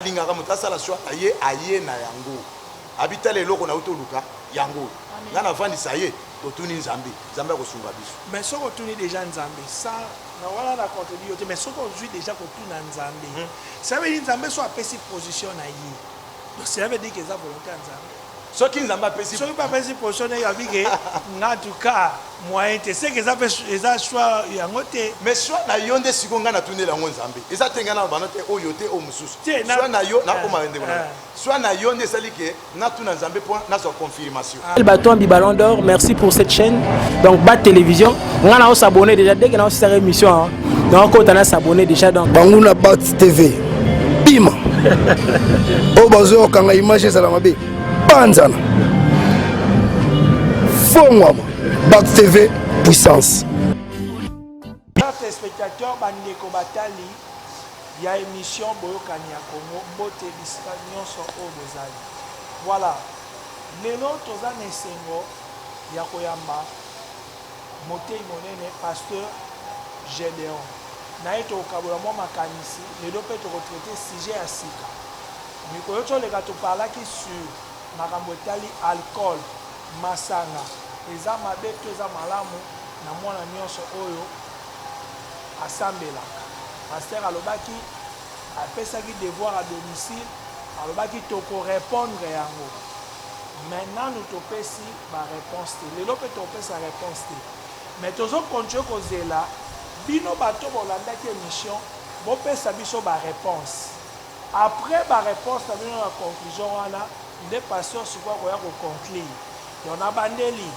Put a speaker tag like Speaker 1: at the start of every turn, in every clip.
Speaker 1: Alingaka moto asala swa aye aye na yango abi tala eloko nauti oluka yango oyo nga navandisa ye totuni nzambe nzambe akosunga biso mais soki otuni deja
Speaker 2: nzambe sa na wana na contredit yo te mais soki ozwi deja kotuna nzambe ça veut dire nzambe so apesi position na ye donc cela veut dire que eza volonté ya nzambe Soki nzambe apesi.
Speaker 1: Soki pe apesi position naye
Speaker 2: alobi ke nga en tout cas moyen te seke eza pe eza choix yango te. Mais choix na yo nde
Speaker 1: sikoyo nga na tuneli yango nzambe eza te nga na loba no te oyo te oyo mosusu choix na yo na
Speaker 2: koma ndeko
Speaker 1: na choix na yo nde esali ke na tuna nzambe po na zwa confirmation. El Baton bi Ballon
Speaker 3: d'Or merci pour cette chaîne donc ba television nga na o s'abonner dejà dès que na o sisaka emission donc kota na s'abonner déjà donc banguna bat tv
Speaker 4: bima oyo bazoyokanga image ezala mabe banzana fongwama bat tv puissance
Speaker 2: téléspectateurs bandeko batali ya émission boyokani ya congo mbote bisika nyonso oyo bozali voilà lelo toza na esengo ya koyamba Moteyi monene, Pasteur Gedeon na ye tokokabola mwa makanisi lelo mpe toko traiter sujet ya sika. Mikolo toleka to parlaki sur makambo etali alcool, masanga eza mabe to eza malamu na mwana nionso oyo asambelaka. Pasteur alobaki apesaki devoir à domicile alobaki toko repondre yango mais nanu topesi. ba reponse te lelo pe tokopesa reponse te mais tozo continue kozela bino bato bolandaki emission bopesa biso ba reponse après ba reponse na bino na conclusion wana nde pasteur sikoyo akoya ko conclure donc na bandeli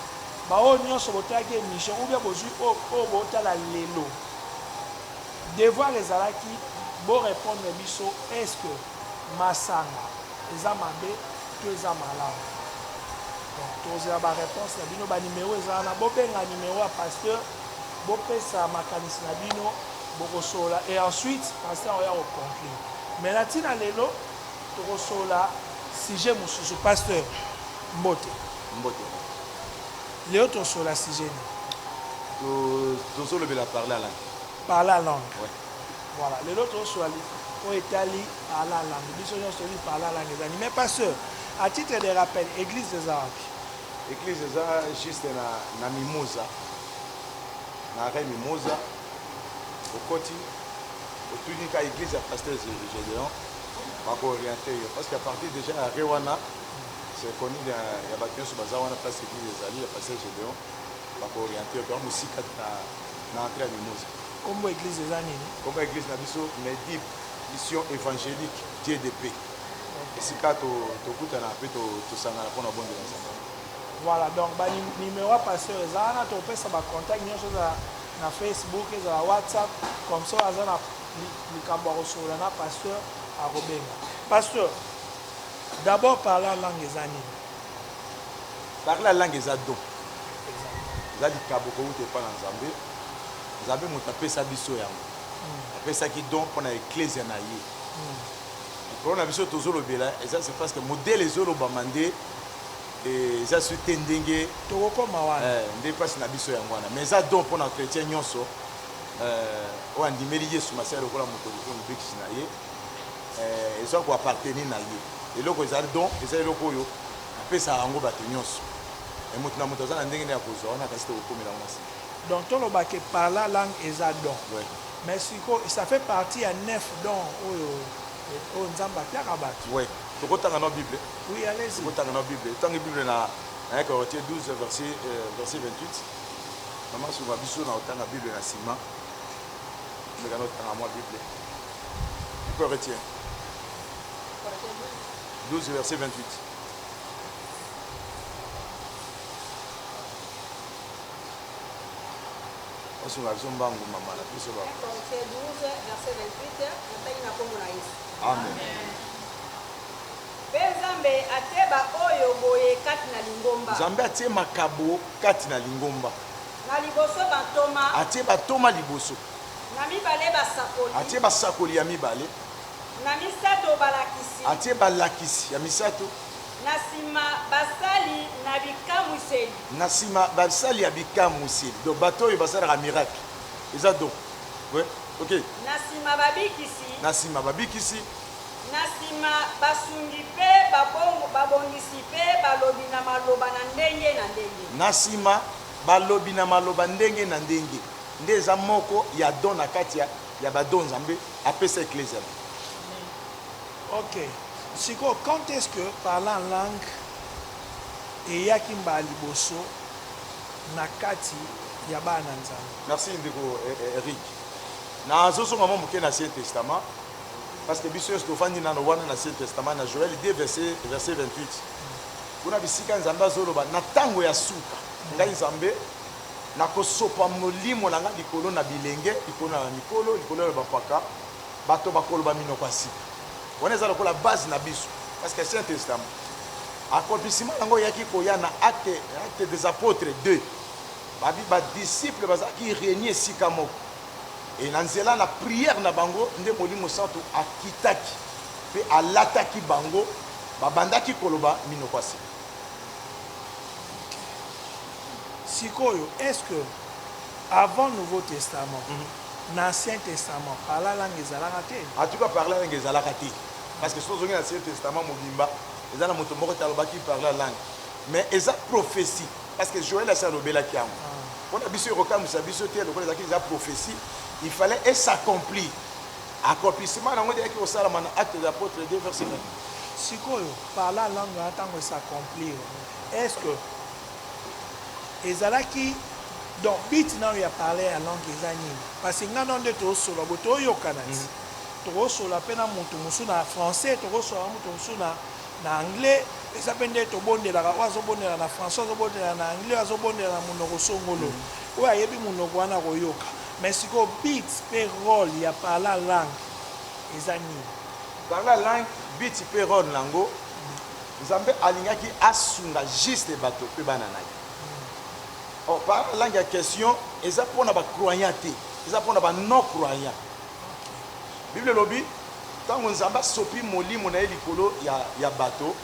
Speaker 2: baoyo nionso botalaki emission ou bien bozui oyo botala lelo devoir ezalaki bo repondre biso est ce que Masanga eza mabe to eza malamu? Donc tokozela ba reponse na bino. Ba numero eza wana. Bobenga numero ya pasteur bopesa makanisi na bino bokosolola et ensuite pasteur akoya ko conclure. Mais na tina lelo tokosolola sujet mosusu. Pasteur mbote. Mbote. Lelo tosolola sujet nini? Tozolobela
Speaker 1: parler à langue. Parler à langue.
Speaker 2: Ouais. Voilà
Speaker 1: lelo
Speaker 2: to swali oyo etali parla langue biso nyonso toyebi parla langue eza nini mais pasteur à titre de rappel église eza wapi église eza
Speaker 1: juste na, na mimosa na arrêt mimosa okoti otuni ka église ya pasteur gédéon bakooriente yo parce que à partir déjà ya arrêt wana c'est connu ya bato nyonso baza wana place église ezali ya pasteur gédéon bakooriente yo toa mosika na, na entrée ya mimosa Kombo ya eglise eza
Speaker 2: nini? Kombo ya eglise na biso
Speaker 1: Medib mission evangelique Dieu de paix esika tokutana pe tosangana pona kobondela Nzambe. Voilà donc
Speaker 2: ba numero ya pasteur eza wana topesa ba contact nionso eza na Facebook ezala WhatsApp comme ça aza na likambo ya kosolola na pasteur akobenga. Pasteur d'abord parler en langue eza nini?
Speaker 1: parle ya langue eza don eza likabo kowuta epai na nzambe nzambe moto apesa biso yango hmm. apesaki don mpo na eklesia na ye hmm. likolo na biso tozolobela eza se parce que modele ezolobama nde eh, eza su te ndenge tokokoma wana eh,
Speaker 2: nde mpasi na biso yango
Speaker 1: wana mais eza don mpo na chrétien nyonso eh, oyo andimeli yesu masiya lokola moto lokola mobikisi na ye eh, ezo ko appartenir na ye eloko ezali don eza eloko oyo apesaka yango bato nyonso e moto na moto aza na ndenge nde ya kozwa wana kasi tokokomela yango na nsima donc toloba ke
Speaker 2: parla langue eza don ouais. mais siko ça fait partie ya neuf don oyo oyo nzambe apiaka bato ouais. tokotanga
Speaker 1: na bible oui, allez tokotanga
Speaker 2: na bible ntango
Speaker 1: bible na na Corinthiens 12 verset, euh, verset 28 mama sunga biso na otanga bible na nsima mekana otanga mwa bible Tu peux retirer. 12 verset 28. osunga biso mbangu mama na biso ba
Speaker 5: amen mpe nzambe atie baoyo boye kati na lingomba nzambe atie makabo
Speaker 1: kati na lingomba na liboso
Speaker 5: batoma atie batoma
Speaker 1: liboso Na mibale,
Speaker 5: basakoli. Atie basakoli ya
Speaker 1: mibale. Na
Speaker 5: misato, balakisi. Atie balakisi
Speaker 1: ya misato. Na sima,
Speaker 5: basali na bikamwiseli. Na sima,
Speaker 1: basali ya bikamwiseli. Donc, bato oyo basalaka miracle. Eza donc. Ouais.
Speaker 5: Ok. Na
Speaker 1: sima,
Speaker 5: babikisi.
Speaker 1: Na sima, babikisi. Na
Speaker 5: sima, basungi pe babongisi pe balobi na maloba na ndenge na ndenge. Na sima,
Speaker 1: balobi na maloba ndenge na ndenge. Nde eza moko ya don na kati ya ya ba don Nzambe apesa eklezia na ye.
Speaker 2: Ok sikoyo quand est-ce que parler en langue eyaki mbala liboso na kati ya bana na Nzambe? Merci ndeko
Speaker 1: Eric. Nazo zonga mwa moke na ancien testament parce que biso nionso tofandi nano wana na ancien testament na Joel 2 verset verset 28 kuna bisika Nzambe azo loba na tango ya suka ngai Nzambe Nakosopa Molimo na Ngai likolo na bilenge, likolo na mikolo, likolo ya bampaka, bato bakoloba minoko ya sika. Wana eza lokola base na biso, parce que Ancien Testament, accomplissement na yango eyaki koya na Acte, Acte des Apotres 2. Ba, ba disciples bazalaki reunies esika moko. Et na nzela na prière na bango, nde Molimo Santu akitaki, pe alataki bango, babandaki koloba minoko ya sika.
Speaker 2: Sikoyo est ce que avant nouveau testament na ancien testament parle la langue ezalaka te? En tout cas parle la langue
Speaker 1: ezalaka te parce que soki ozongi na ancien testament mobimba eza na moto moko te alobaki parle la langue mais eza prophetie parce que Joël asi alobelaki yango pona biso ekokamwisa biso te lokola ezalaki dejà prophetie il fallait e s'accomplir Accomplissement na yango nde eyaki kosalama na Actes des Apotres ii verset 20. Sikoyo,
Speaker 2: parler en langue wana tango e s'accomplir, est-ce que ezalaki donc but nayo ya parler en langue eza nini? Parce que ngai na yo nde tozo solola boye, tozo yokana ti, toko solola pe na mutu mosusu na français, toko solola na mutu mosusu na na anglais, eza pe nde tobondelaka, oyo azo bondela na français, oyo azo bondela na anglais, oyo azo bondela na munoko songolo, oyo ayebi munoko wana akoyoka. Mais sikoyo beat pe role ya parla langue eza nini? Parla
Speaker 1: langue, beat pe role nango Nzambe alingaki asunga juste bato pe bana na ye. Or parla langue ya question eza pona ba croyant te, eza pona ba non croyant. Bible elobi tango Nzambe asopi molimo na ye likolo ya bato,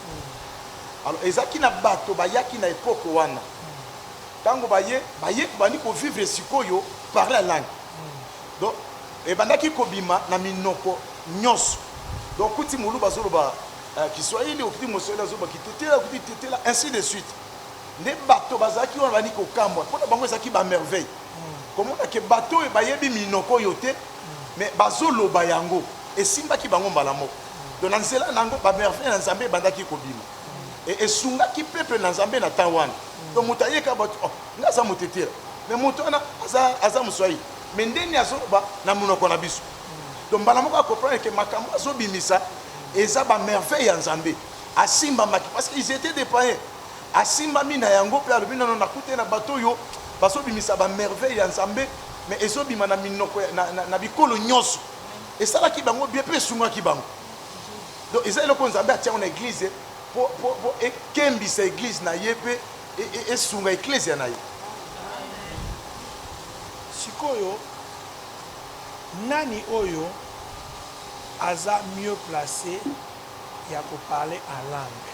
Speaker 1: alors ezalaki na bato bayaki na epoque wana, Tango baye baye tobandi ko vivre sikoyo parler ya langue donc ebandaki kobima na minoko nionso donc okuti muluba azoloba kiswahili okuti moswahili azoloba kitetela okuti kitetela ainsi de suite nde bato bazalaki wana babandi kokamwa po na bango ezalaki ba merveille komona ke bato oyo bayebi minoko oyo te mais bazoloba yango esimbaki bango mbala moko donc na nzela na yango ba merveille na Nzambe ebandaki kobima. et esungaki peuple na Nzambe na temps wana donc moto aye ka batu oh nga aza mutetera mais moto wana aza aza muswahili mais ndeni azoloba na munoko na biso donc mbala moko a comprendre que makambo azo bimisa eza ba merveille ya Nzambe asimbamaki parce qu'ils étaient des païens asimbami na yango pe alobi nono nakute na bato oyo bazo bimisa ba merveille ya Nzambe mais ezobima na minoko na, na, na bikolo nyonso esalaki bango bien pe esungaki bango Donc eza eloko Nzambe atia yango na eglise po, po, po ekembisa eglise na ye pe e, e, esunga eklezia na ye.
Speaker 2: Sikoyo nani oyo aza mieux place ya ko parler en langue?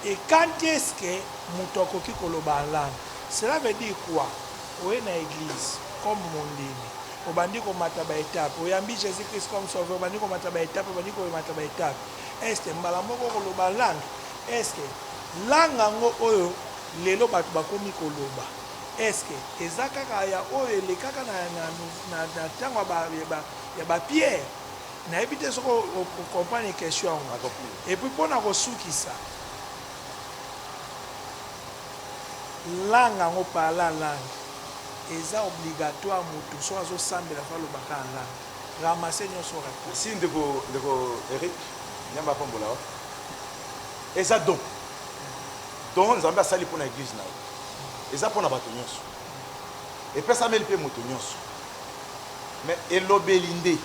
Speaker 2: Et quand est-ce que moto akoki koloba en langue? Cela veut dire quoi? Oye na eglise comme mondimi Obandi komata ba etape. Oyambi Jesus Christ comme sauveur, obandi komata ba etape, obandi koemata ba etape. Est ce que mbala moko okoloba en langue? Est ce que langue yango oyo lelo bato bakomi koloba, est ce que eza kaka ya oyo elekaka na, na, na, na ntango ya ba, ya ba, ya ba Pierre? Nayebi te soki o- o- o comprendre question yango. Nakoki. Et puis mpo na kosukisa, Langue yango parla langue eza obligatoire mutu soki azo sambela faut aloba kaka langue ramase nioso rate. Merci ndeko ndeko
Speaker 1: Eric nzambe apambola yo eza don don nzambe asali pona eglise naye eza pona batu nionso. Epesameli mpe moto nyonso. Mais elobeli nde.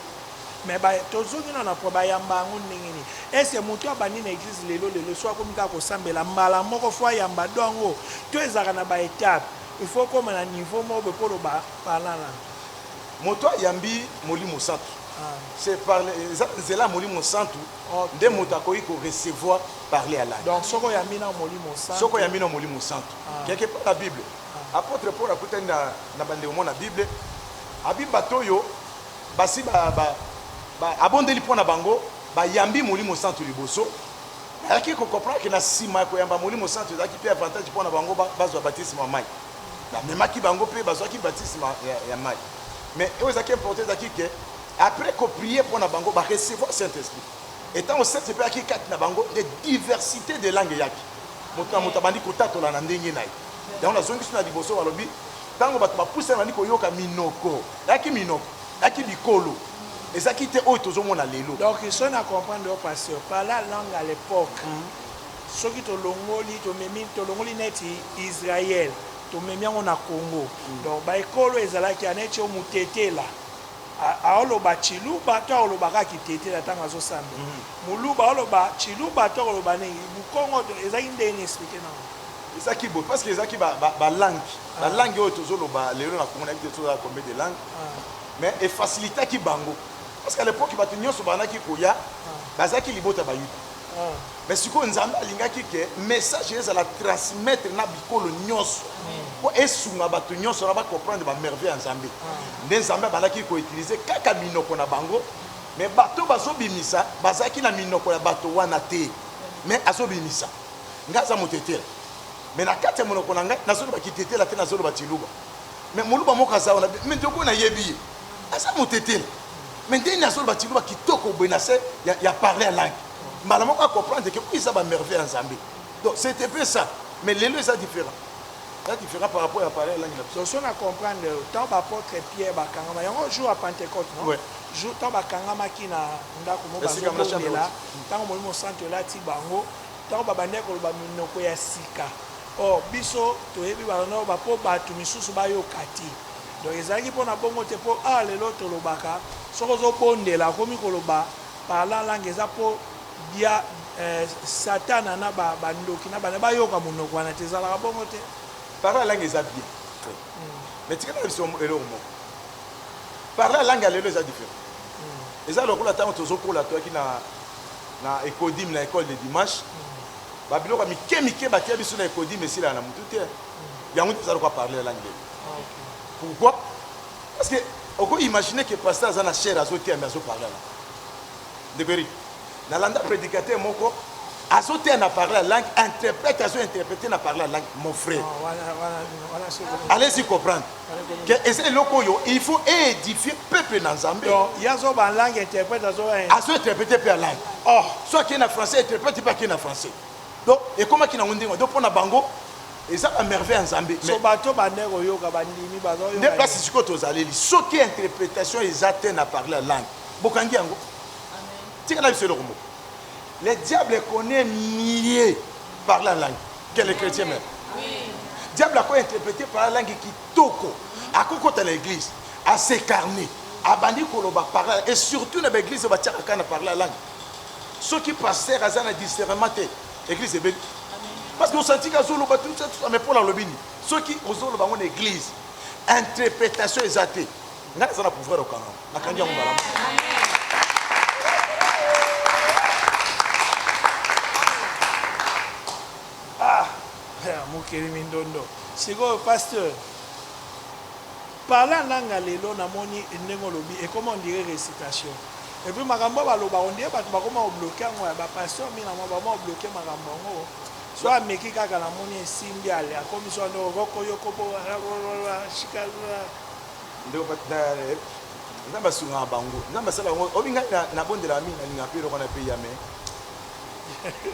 Speaker 1: Mais ba
Speaker 2: tozongi nanu na point ba yamba yango ndenge nini? Est ce que mutu abandi na eglise lelo lelo soki akomi kaka ko sambela mbala moko faut ayamba don yango? To ezalaka na ba etapes? Il faut okoma na niveau moko boye po oloba parlant langue. Moto
Speaker 1: ayambi molimo santu c'est par eza na nzela ya molimo santu nde moto akoki ko recevoir parler ya langue. Donc soki oyambi nao
Speaker 2: molimo santu. Soki oyambi nao molimo santu. Quelque part na bible. Apotre Paul akutani na, na bandeko
Speaker 1: mona Bible, abi bato oyo basi ba, ba, ba, abondeli mpo na bango bayambi Molimo Santu liboso, ayaki kokomprendre ke na nsima ya koyamba Molimo Santu ezalaki mpe avantage mpo na bango bazwa batisme ya mai. Bamemaki bango mpe bazwaki batisme ya, ya mai. Mais oyo ezalaki importe ezalaki ke après koprie mpo na bango ba recevoir Saint-Esprit. Et ntango Seth mpe ayaki kati na bango, nde diversite des langues eyaki. Moto na moto abandi kotatola na ndenge na ye. Yango nazongisi na liboso, balobi ntango bato bapusani babandi koyoka minoko, eyaki minoko, eyaki bikolo, ezalaki te oyo tozomona lelo. Donc soki na comprendre
Speaker 2: yo pasteur, par la langue à l'epoque, soki tolongoli, tomemi, tolongoli neti Israël, tomemi yango na Congo, donc ba ekolo ezalaki ya neti oyo Mutetela, Aoloba tshiluba to akoloba kaka kitete na tango azo samba? Muluba aoloba tshiluba to akoloba nini? Mukongo to ezalaki ndenge nini explique nanga. Ezalaki boye parce que ezalaki
Speaker 1: ba langues, ba langues oyo tozo loba lelo na Congo nayebi te tozala combien de langues mais e facilitaki bango parce que à l'epoque batu nionso babandaki koya bazalaki libota ya bayuda. Mais sikoyo Nzambe alingaki que message ezala transmettre na bikolo nionso po esunga batu nionso na ba comprendre ba merveille ya Nzambe. Nde Nzambe abandaki ko utiliser kaka minoko na bango mais bato bazo bimisa bazalaki na minoko ya bato wana te mais azo bimisa. Nga aza mutetela mais na kati ya monoko na nga nazo loba kitetela te nazo loba tshiluba mais muluba moko aza wana mais ndeko na yebi ye aza mutetela mais ndenge azo loba tshiluba kitoko boye na se ya, ya parler ya langue mbala moko a comprendre que eza ba merveille ya Nzambe donc c'était peu ça mais lelo eza différent eza différent par rapport ya pareil langue na biso soso na comprendre
Speaker 2: tant ba apôtre Pierre bakangama yango jour ya Pentecôte non ouais. jour tant bakangamaki na ndako mo bazongela tango molimo mosantu elati bango tango babandaki koloba minoko ya sika or oh, biso toyebi bango bapo bato misusu bayoka te donc ezalaki mpona bongo te mpo awa ah, lelo tolobaka soki ozobondela akomi koloba Parlant langue eza po dia satana na ba ndoki na bana bayoka munoko wana te ezalaka bongo te. Parla langue eza
Speaker 1: bien mais tika nayebisa yo eloko moko parla langue ya lelo eza different eza lokola tango tozo kola toyaki na na ecodim na ecole de dimanche ba biloko ya mike mike batia biso na ecodim esilaka na mutu te yango nde eza lokola parle langue lelo pourquoi Parce que oko imaginer que pasteur aza na chair azo teya mais azo parler à la ndeko Eric na landa predicateur moko azo teya na parler à langue interprète azo interpréter na parler à langue mon frère allez-y comprendre que eza eloko oyo il faut édifier peuple na Nzambe donc yazo ba langue
Speaker 2: interprète azo azo interpréter
Speaker 1: pe à langue oh soit qui na français interprète pas qui na français donc ekomaki nango ndenge donc mpo na bango Eza ba merveille ya nzambe mais. So bato bande
Speaker 2: koyoka bandimi bazo yoka. Nde place sikoyo tozaleli
Speaker 1: soki interpretation eza te na parler langue bokangi yango tikala biso eloko moko le diable connaît mieux par la langue que les chrétiens même diable ako interpréter par la langue kitoko akokota na église asecarne abandi koloba par la et surtout na baeglise batiaka kaka na par la langue soki pasteur aza na discernement te Eglise ebeli. Parce que osenti ka zolo ba tout ça tout ça mais pona lobini. Soki ozolo bango na eglise interprétation eza te. Nga naza na pouvoir okanga. Nakangi yango malamu. Ah,
Speaker 2: mokeli mindondo. Sikoyo pasteur Parla nanga lelo na moni ndenge olobi ekoma on dirait recitation et puis makambo ba loba on dirait batu bakoma ko bloque yango ya ba pasteur mina mua bakoma ko bloque makambo yango soki ameki kaka na moni esimbi ale akomi soki ande roko yoko bo rarorora shika
Speaker 1: ndeko eh, nzambe asungaka bango nzambe asala bango obi ngai nabondelaka mingi nalinga mpe eloko wana mpe yame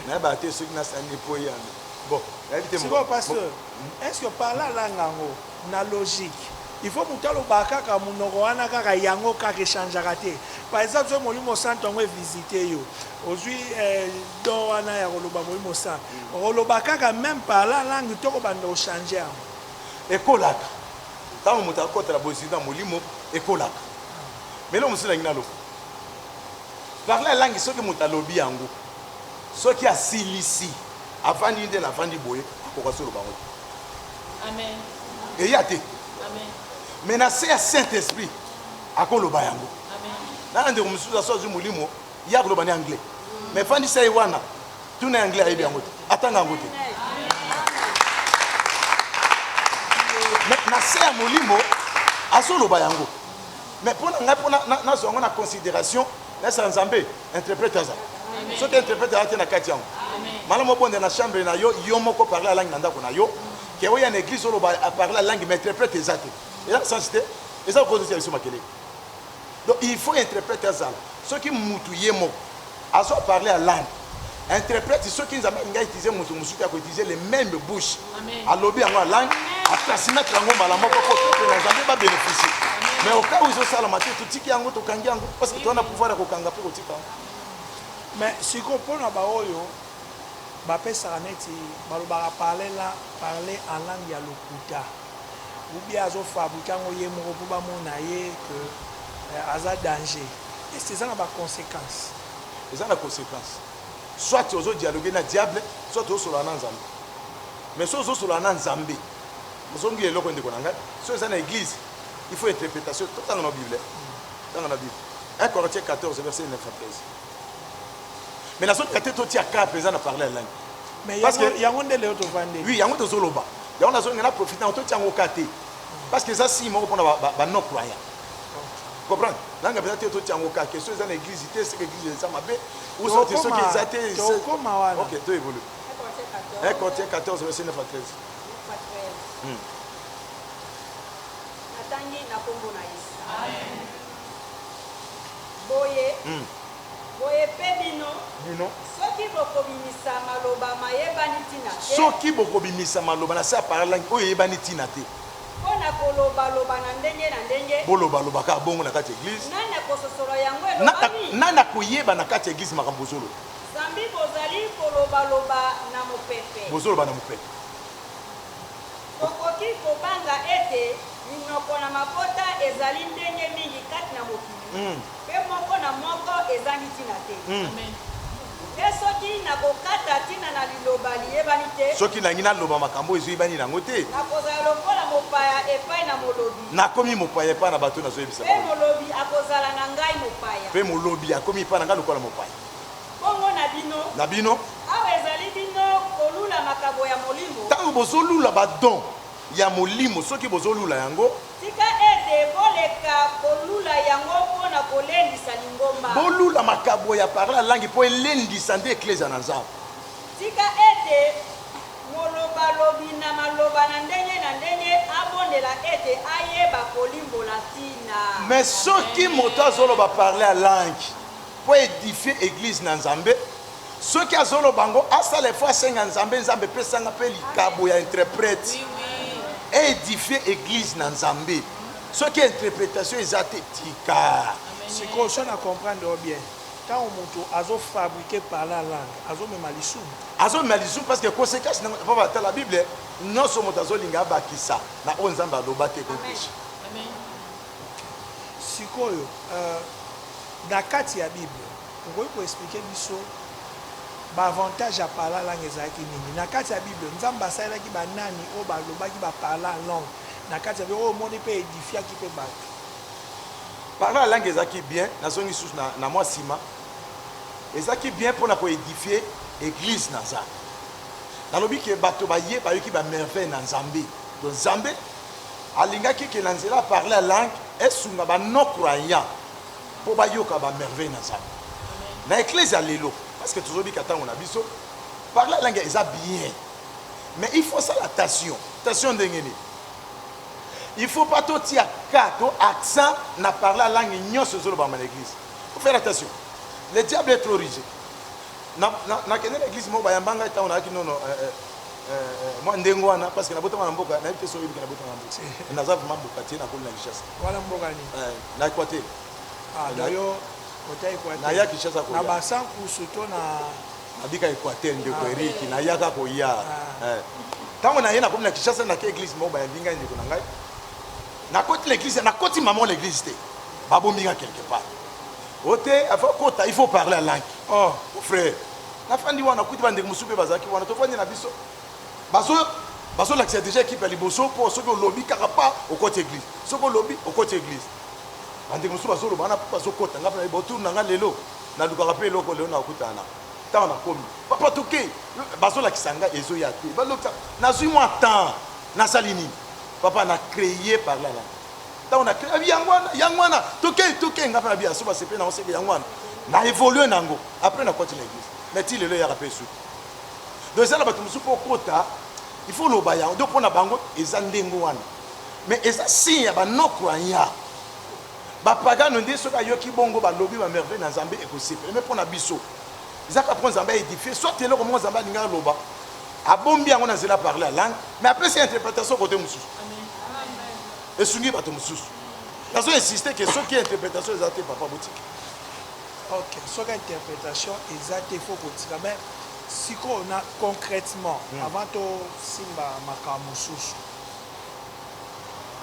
Speaker 1: nayebaka te soki nasani mpo yame bon nayebi te sikoyo pasteur
Speaker 2: est ce que parla langa yango na logique il faut mutu aloba kaka munoko wana kaka yango kaka e changeaka te par exemple soki molimo santu yango e visite yo ozui don wana ya koloba molimo santu okoloba kaka meme par la langue to kobanda ko changer yango ekolaka
Speaker 1: tango mutu akota na bozui na molimo ekolaka mais eloko mosusu nalingi naloba par la langue soki mutu alobi yango soki asilisi Avandi ye nde na avandi boye akoka solo bango te. Amen. Eya te. Amen. Mais na se ya Saint Esprit akoloba yango. Amen. Nana ndeko mosusu aso azwi molimo ya koloba ni anglais. Mm. Mais fandisa ye wana tuna anglais ayebi yango te. Atanga yango te. Mais na se ya molimo azoloba yango. Mais mpo na ngai mpo nazwa yango na considération nasala nzambe interprète aza soki interprète aza te na kati yango malamu obonda na chambre na yo yo moko parle alangi na ndako na yo ke oya na église oloba aparle alangi ma interprète eza te eza kosansi te eza kokozosya biso makelele donc il faut interprète azala soki mutu ye moko azo parle alangi interprète soki nzambe alingi autilize moto mosusu te akoutilize le même bouche alobi yango alangi atrasimètre yango mbala moko mpo peuple na nzambe babeneficie mais oka oyo ezosalama te totiki yango tokangi yango parce que towana pouvoir ya kokanga mpe kotika yango mais
Speaker 2: sikoyo mpo na baoyo bapesaka neti balobaka parle la parle en langue ya lokuta ubie azofabrike yango ye moko mpo bamona ye ke eh, aza danger esi eza na baconséquence eza na
Speaker 1: conséquence Soit ozo dialoguer na diable soit ozo solola na nzambe mais soki ozo solola na nzambe ozo ngila eloko ndeko na ngai soki eza na eglise il faut interpretation to tanga na bible tanga na bible 1 Corinthiens 14 verset 9 à 13 mais nazo linga te totia cas mpenza na parler ya langue mais parce que
Speaker 2: yango nde leo tovandi oui yango tozo loba
Speaker 1: yango nazo linga na profiter yango totia yango cas te parce que eza signe moko mpona ba non croyant comprendre nanga mpenza te totia yango kaka question eza na église te seke église eza mabe ou soit te soki eza te ok to evolu un quartier 14 verset 9 à 13 hmm. natangi na nkombo na yesu boye hmm. boye
Speaker 5: mpe bino bino soki bokobimisa maloba mayebani ntina te soki bokobimisa
Speaker 1: maloba na se ya parlangi oyo eyebani ntina te Mpo na
Speaker 5: kolobaloba na ndenge na ndenge. Bolobaloba kaka bongo na
Speaker 1: kati ya eglise. Nani akososola
Speaker 5: yango elobami? Nani akoyeba na
Speaker 1: kati ya eglise makambo bozoloba? Zambi bozali
Speaker 5: kolobaloba na mopepe. Bozoloba na mopepe.
Speaker 1: Tokoki
Speaker 5: kobanga ete minoko na mabota ezali ndenge mingi kati na mokili. Mpe moko na moko ezangi ntina te. Amen. Mpe soki nakokata ntina na liloba liyebani te. Soki nalingi naloba makambo
Speaker 1: oyo ezoyebani na yango te. Nakozala lokola
Speaker 5: mopaya epai na molobi. Nakomi mopaya epai
Speaker 1: na bato oyo nazoyebisa bango. Mpe molobi akozala
Speaker 5: na ngai mopaya. Mpe molobi akomi
Speaker 1: epai na ngai lokola mopaya. Bongo na
Speaker 5: bino. Na bino. Awa ezali bino kolula makabo ya molimo. Ntango bozolula ba
Speaker 1: dons ya molimo, soki bozolula yango. Tika ete
Speaker 5: boleka kolula yango mpo na kolendisa lingomba. Bolula makabo
Speaker 1: ya parla ya langi mpo elendisa nde Eklezia na Nzambe. Tika
Speaker 5: ete molobalobi na maloba na ndenge na ndenge abondela ete ayeba kolimbola ntina. Mais soki
Speaker 1: moto azoloba parla ya langi mpo a edifier Eglise na Nzambe, Soki azoloba ngo asala effort asenga nzambe nzambe pesa nga pe likabo ya interprète e edifier eglise na nzambe soki interpretation eza te tika sikoyo so
Speaker 2: na comprendre yo bien ntango moto azofabrike parle en langue azomema lisumu azomema lisumu parce que conséquence nango
Speaker 1: epa batala bible nyonso moto azolinga abakisa na oyo nzambe aloba te kopeche
Speaker 2: sikoyo euh, na kati ya bible Okoki ko expliquer biso ba avantages ya parla langue ezalaki nini? Na kati ya bible Nzambe asalelaki ba nani oyo ba lobaki ba parla langue na kati ya oyo omoni pe edifiaki pe batu?
Speaker 1: Parla langue ezalaki bien, na zongi lisusu na na mua sima, ezalaki bien pona ko edifier eglise na Nzambe. Na lobi ke bato ba ye ba yoki ba merveilles na Nzambe. Donc Nzambe alingaki ke na nzela ya parla langue esunga ba non croyants. po bayoka ba merveille na nzambe na ecclesia lelo parce que tozo bika tango na biso parle la langue eza bien mais il faut sala tation tation ndenge nini il faut pas to tia ka to accent na parle la langue nionso ezo lobama na eglise faut faire attention le diable est trop rigide na na na kende na eglise moko bayamba ngai tango na ki nono euh, euh, euh, euh, mwa ndenge wana parce que na botama na mboka na yete so yebika na botama na mboka naza vraiment boka tie na koli na richesse Wana mboka nini? Eh,
Speaker 2: na Equateur.
Speaker 1: Ah, na yo
Speaker 2: ota Equateur.
Speaker 1: Na ya Kinshasa ko. Na ba sans kusu to
Speaker 2: na abika Equateur
Speaker 1: ndeko ah. Eric, na ya ka ko ya. Ah. Eh. Tango na ye na komi na Kinshasa na ke église moko ba yambi ngai ndeko na ngai. Na koti l'église, na koti maman l'église te. Ba bombi nga quelque part. Ote, il faut kota, il faut parler la langue. Oh, frère. Na fandi wana kuti ba ndeko musupe bazaki wana to fandi na biso. Bazo bazo lakisa dejà equipe ya liboso po soki olobi kaka pa okoti eglise soki olobi okoti eglise ba ndeko mosusu bazo loba wana po bazo kota nga pe nayebi autour na nga lelo na lukaka pe eloko lelo na kutana na tango na komi papa toke bazo lakisa nga ezo ya te ba lokisa nazui mwa temps na sali nini papa na creye par là là tango na creye yango wana yango wana toke toke nga pe na biaso ba sepe na oseke yango wana na evolue nango après na koti na eglise mais ti lelo yaka pe suki donc eza na bato mosusu mpo okota il faut oloba yango donc mpo na bango eza ndenge wana mais eza signe ya banocroyant bapagano nde soki ayoki bongo balobi bamerveille na nzambe ekosepela me mpo na biso ezaka mpo nzambe aedifie soit eloko moko nzambe alingi aloba abombi yango na nzela parle ya langue me apesi ya interpretation kote mosusu esungi bato mosusu nazo insiste ke soki interpretation eza te papa botiki Ok
Speaker 2: soki interpretation eza te faut kotika mais sikoyo na concretement hmm. avant to simba makambo mosusu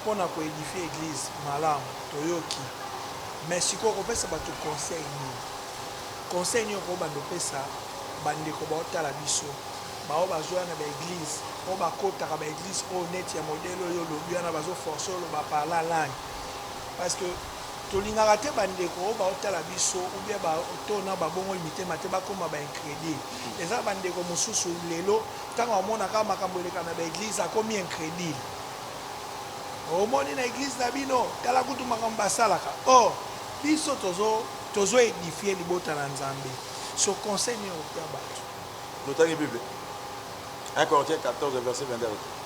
Speaker 2: pona ko edifie eglise malamu toyoki mais sikoyo kopesa bato conseil nini conseil nini okoki bando opesa bandeko baotala biso baoyo bazoya na baeglise oyo bakotaka baeglise oyo neti ya modele oyo olobi wana bazoforce oloba parla langue parce que Tolingaka te bandeko oyo baotala biso ou bien ba to na babongoli mitema te bakoma ba incredule. Eza na bandeko mosusu lelo tango amona kaka makambo eleka na ba eglise akomi incredule. Omoni na eglise na bino tala kutu makambo basalaka. Or biso tozo tozo edifier libota na Nzambe. So conseil nini okopesa bato? Totangi Bible,
Speaker 1: 1 Corinthiens 14 verset 22 alobi.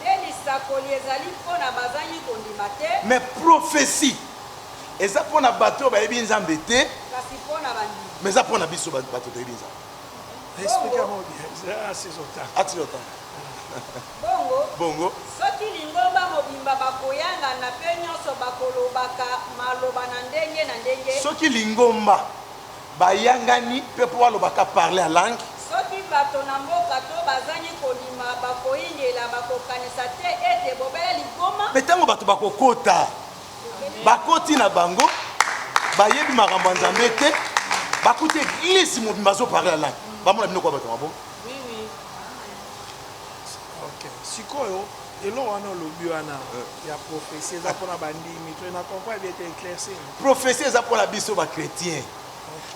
Speaker 1: Nde
Speaker 5: lisakoli ezali mpo na bazangi kondima te. Mais prophetie
Speaker 1: eza mpo na bato oyo bayebi Nzambe te. Kasi mpo na
Speaker 5: bandimi. Mais eza mpo na biso
Speaker 1: bato toyebi Nzambe. Explique yango
Speaker 2: bien. Ah, si j'entends. Ah, si j'entends.
Speaker 1: Bongo. Bongo.
Speaker 5: Soki lingomba mobimba bakoyangana mpe nyonso bakolobaka maloba na ndenge na ndenge. Soki lingomba
Speaker 1: bayangani pe po baloba ka parler en langue. Soki bato na
Speaker 5: mboka to bazangi kondima bakoingela, bakokanisa te ete bobele ligboma. Pe tango bato bakokota,
Speaker 1: bakoti na bango, bayebi makambo ya Nzambe te, bakuti eglise mobimba azo parler en langue, bamona bino kua bato ya maboma? Oui, oui.
Speaker 2: Ok, sikoyo. Eloko wana olobi wana ya prophetie eza pona ba ndimi to na comprendre bien te eclaircir. Prophetie eza pona
Speaker 1: biso ba chretiens.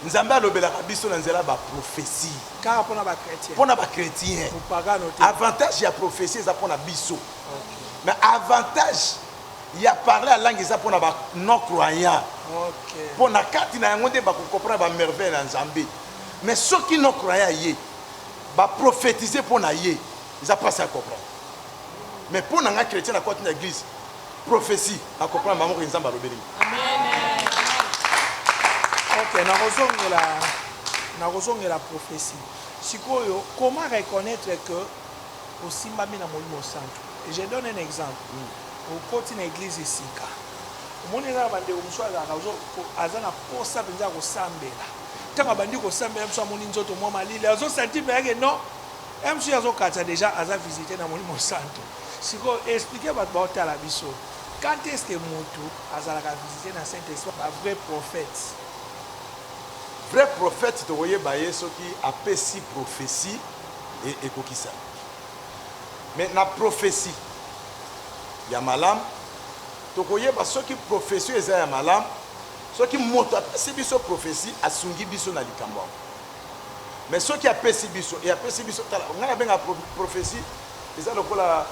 Speaker 1: Nzambe alobelaka biso na nzela ba prophetie. Kaka pona ba
Speaker 2: chretiens. Pona ba chretiens.
Speaker 1: Mopagano te.
Speaker 2: Avantage ya prophetie
Speaker 1: eza pona biso. Okay. Mais avantage ya parler ya langue eza pona ba non croyants. Okay. Pona kati na yango nde ba ko comprendre ba merveilles ya Nzambe. Mais soki non croyant ye ba prophétiser pona ye eza pasi à comprendre. mais pona nga chretien na koti na eglise prophetie na comprendre bango ke nzambe alobeli
Speaker 2: ok nakozongela nakozongela prophetie sikoyo comment reconnaître que osimbami na molimo santu je donne un exemple mm. okoti na eglise esika omoni eza na bandeko mosusu azalaka aza na posa mpenza ya kosambela ntango abandi kosambela mosusu amoni nzoto mwa malili azosanti mpe yake non MC azo katisa dejà aza visite na molimo santu sikoyo explique bato bao tala biso quand est ce que mutu azalaka visite na saint esprit ba vrai prophète
Speaker 1: vrai prophète tokoyeba ye soki apesi prophetie e, ekokisami mais na prophetie ya malamu tokoyeba soki prophetie eza ya malamu soki moto apesi biso prophetie asungi biso na likambo yango mais soki apesi biso et apesi biso tala ngai nabenga prophetie eza lokola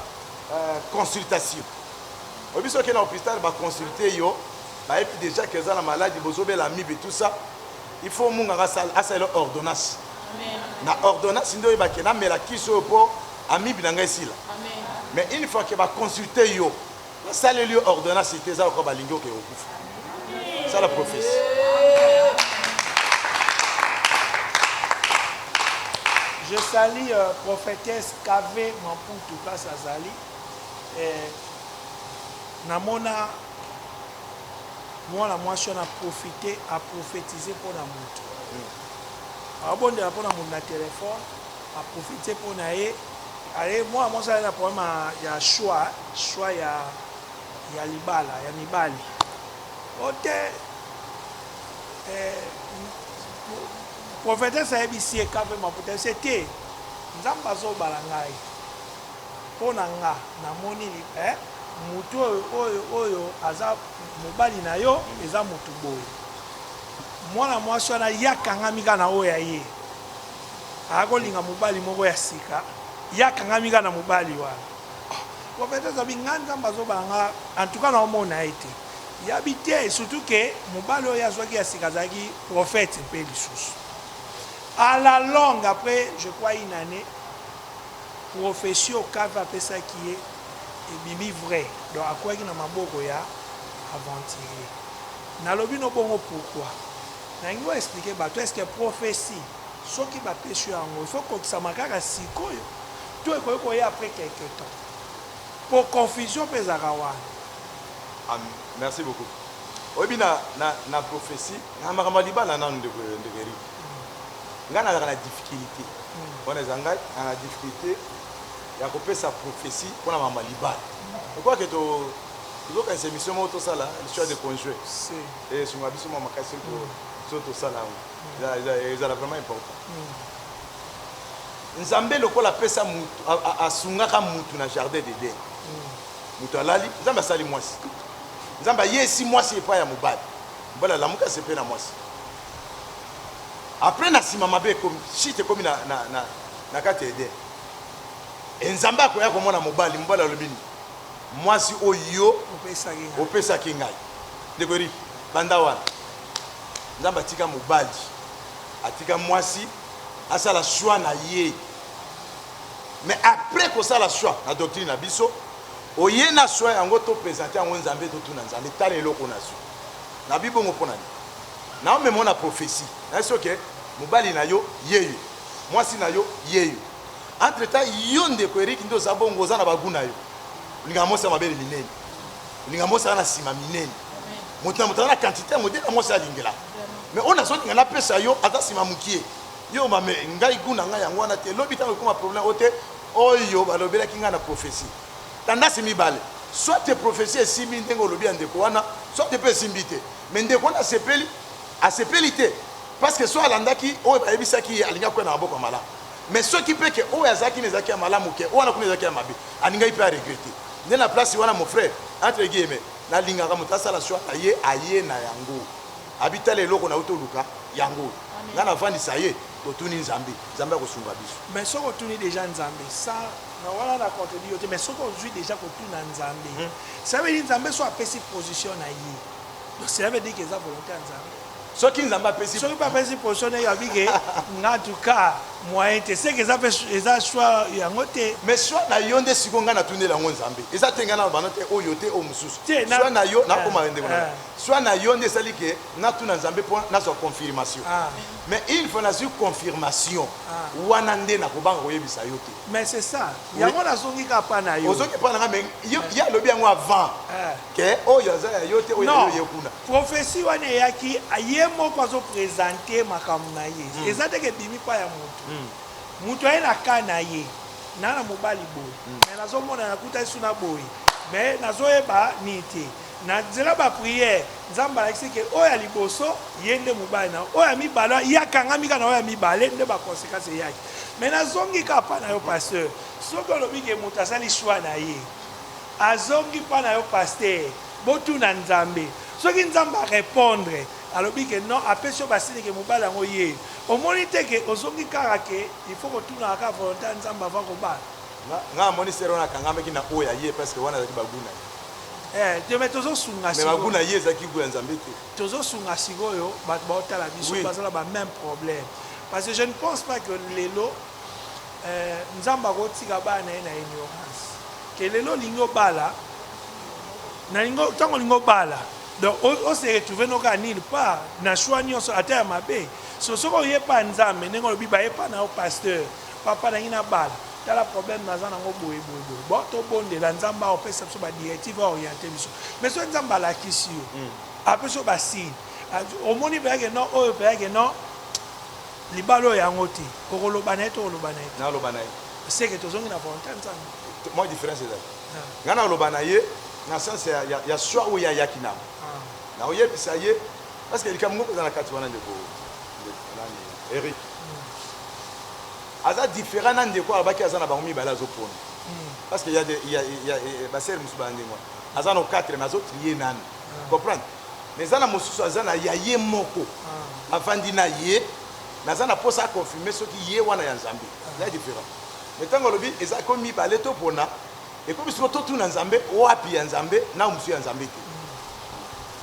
Speaker 1: euh, consultation oyebi soki na hôpital baconsulte yo bayebi déjà que eza na maladi bozobela amibe et tout ça il faut munganga asalela ordonnance na ordonnance nde oyebake namela kisi oyo mpo amibe na ngai esila mais une fois que baconsulte yo Nasaleli yo ordonnance te eza lokola balingi oke okufa. Sala prophetie.
Speaker 2: Je salue euh, prophétesse KV Mamputu place azali. Euh, namona mwana mwasi wana profite aprofetize mpo na moto abondela mpo na moto na telefone A profiter po na ye aye mwana mwasi aye na problème ya choix choix ya ya libala ya mibali ote eh, prophetesse ayebisi ye kape maputa ese te nzambe azobala ngai mpo na nga namoni eh, motu oyo oyo oyo aza mobali na yo eza motu boye mwana mwasi wana ye akangami kaka na oyo ya ye Ako linga mobali moko ya sika ye akangami kaka na mobali wana prophète azabi nga nzambe azobala nga en tout cas na omona ye te yabi te surtout que mobali oyo azwaki ya sika azalaki prophète mpe lisusu à la longue après je crois une année prophetie okave apesaki ye ebimi vrai donc akwaki na maboko ya aventurier nalobi no bongo pourquoi Nalingi o expliquer batu est ce que prophetie soki ba pesi yo yango il faut ekokisama kaka sikoyo to ekoki koya après quelques temps? Po confusion pe ezalaka wana. Ah merci beaucoup
Speaker 1: oyebi na na na prophetie na makambo ya libala nanu ndeko ndeko Eric ngai nazalaka na difficulté wana eza ngai na na difficulté ya kopesa prophetie mpona makambo ya libala je crois que to tozokanisa émission moko tosala l'histoire de conjue Esunga biso mua makasi po soki tosala yango ezala vraiment important. Nzambe lokola apesa mutu asungaka mutu na jardin d'Eden. Mutu alali, Nzambe asali mwasi. Nzambe ayesi mwasi epai ya mobali. Mobali alamuki asepeli na mwasi. Après na nsima mabe ekomi, shit ekomi na, na, na, na kati ya Eden. E Nzambe akoya komona mobali, mobali alobi nini? Mwasi oyo yo opesaki ngai. Ndeko Eric, banda wana Nzambe atika mobali, atika mwasi asala choix na ye. Mais après kosala choix na doctrine na biso, oye na choix yango to presenter yango Nzambe, totuna Nzambe, tala eloko nazwi. Na bibongo mpo na nini? Naomema na prophetie. Nayebi soki mobali na yo yeyo, mwasi na yo yeyo. Entre temps yo ndeko Eric nde oza bongo oza na ba gout na yo olingaka mwasi ya mabele minene olingaka mwasi aza na nsima minene moto na moto aza na quantité ya modele ya mwasi alingela mais oyo nazolinga napesa yo aza nsima mokie yo mame ngai gout na ngai yango wana te lobi ntango ekoma problème oyo te oyo balobelaki ngai na prophétie tandasi mibale soit te prophétie esimbi ndenge olobi ya ndeko wana soit te mpe esimbi te mais ndeko wana asepeli asepeli te parce que so alandaki oyo bayebisaki ye alingaki koya na maboko ya malamu mais soki pe ke oyo azalaki na ezalaki ya malamu ke wana kuna ezalaki ya mabe alingaki pe a regrette nde na place wana mon frère entre guilleme nalingaka moto asala choix na ye aye na yango abi tala eloko na uti oluka yango oyo nga navandisa ye totuni nzambe nzambe akosunga biso mais soki otuni deja
Speaker 2: nzambe sa na wana na contredit yo te mais soki ozwi deja kotuna nzambe hmm. sabeli nzambe so apesi position na ye Donc cela veut dire que eza volonté ya Nzambe. Soki Nzambe apesi.
Speaker 1: Soki pe apesi position na
Speaker 2: ye abi que nga en tout cas moyen te seke eza pe eza choix yango te. Mais choix na yo nde
Speaker 1: siko nga na tunela yango Nzambe. Eza te nga na bana te oyo te oyo mususu. Choix na yo na koma wende kuna. Choix na yo nde esali que na tuna Nzambe po na zwa confirmation. Mais une fois na zwi confirmation wana nde na kobanga koyebisa yo te. Mais c'est ça.
Speaker 2: Yango na zongi ka pa na yo. Ozongi pa na nga mais
Speaker 1: ye alobi yango avant. Que oyo aza ya yo te oyo ya yo eye kuna. Non prophetie wana eyaki
Speaker 2: ye moko azo presenter makambo na ye eza te ke ebimi epai ya mutu. Mutu aye na cas na ye na na mobali boye mais nazo mona nakutani su na boye mais nazo yeba nini te na nzela ba prière nzambe alakisi ke oyo ya liboso ye nde mobali na oyo ya mibale wana ye akangami kaka na oyo ya mibale nde ba consequence eyaki mais nazongi kaka epai na yo pasteur soki olobi ke mutu asali choix na ye Azongi pa na yo pasteur botuna nzambe soki nzambe a repondre alobi ke non apesi yo basine ke mobali yango ye omoni te ke ozongi kaka ke il faut kotunaka kaka volonte ya nzambe avant kobala. Nga nga na moni
Speaker 1: sœur wana akangamaki na oyo ya ye parce que wana ezalaki ba gout na ye. Eh te
Speaker 2: mais tozo sunga Mais ba gout sikoyo na ye ezalaki
Speaker 1: gout ya Nzambe te. tozo sunga sikoyo
Speaker 2: batu bao tala biso Oui. baza na ba meme problème parce que je ne pense pas que lelo Eeh nzambe akotika bana naye na ignorance que lelo olingi obala nalingi tango olingi obala donc o se retrouver no kaka nil part na choix nionso ata ya mabe so soki oye pa nzambe ndenge olobi baye pa na yo pasteur papa nalingi nabala tala problème naza nango boye boye boye bo tobondela nzambe aopesa biso ba directive aoriente biso mais soki nzambe alakisi yo mm. apesi yo basigne omoni mpenza ke non oyo mpenza ke non Libala oyo yango te. Okoloba na ye to oloba na ye te? Naloba na ye. Seke
Speaker 1: tozongi na
Speaker 2: volonte ya Nzambe. Mwa difference ezali.
Speaker 1: Nga nakoloba na ye na sens ya, ya, ya choix oyo ye ayaki na yango. Nakoyebisa ye parce que likambo moko eza na kati wana ndeko, ndeko nani, Eric. Aza different na ndeko oyo alobaki aza na bango mibale azo pona. Parce que ya de, ya, ya, ba soeurs mosusu baza ndenge wana. Aza na 4 mais azo trier nanu. Comprendre? mais eza na mosusu aza na ya ye moko avandi na ye mais aza na posa a confirmer soki ye wana ya nzambe eza different mais ntango alobi eza ekomi mibale topona ekomi siko totuna nzambe wapi ya nzambe na mosusu ya nzambe te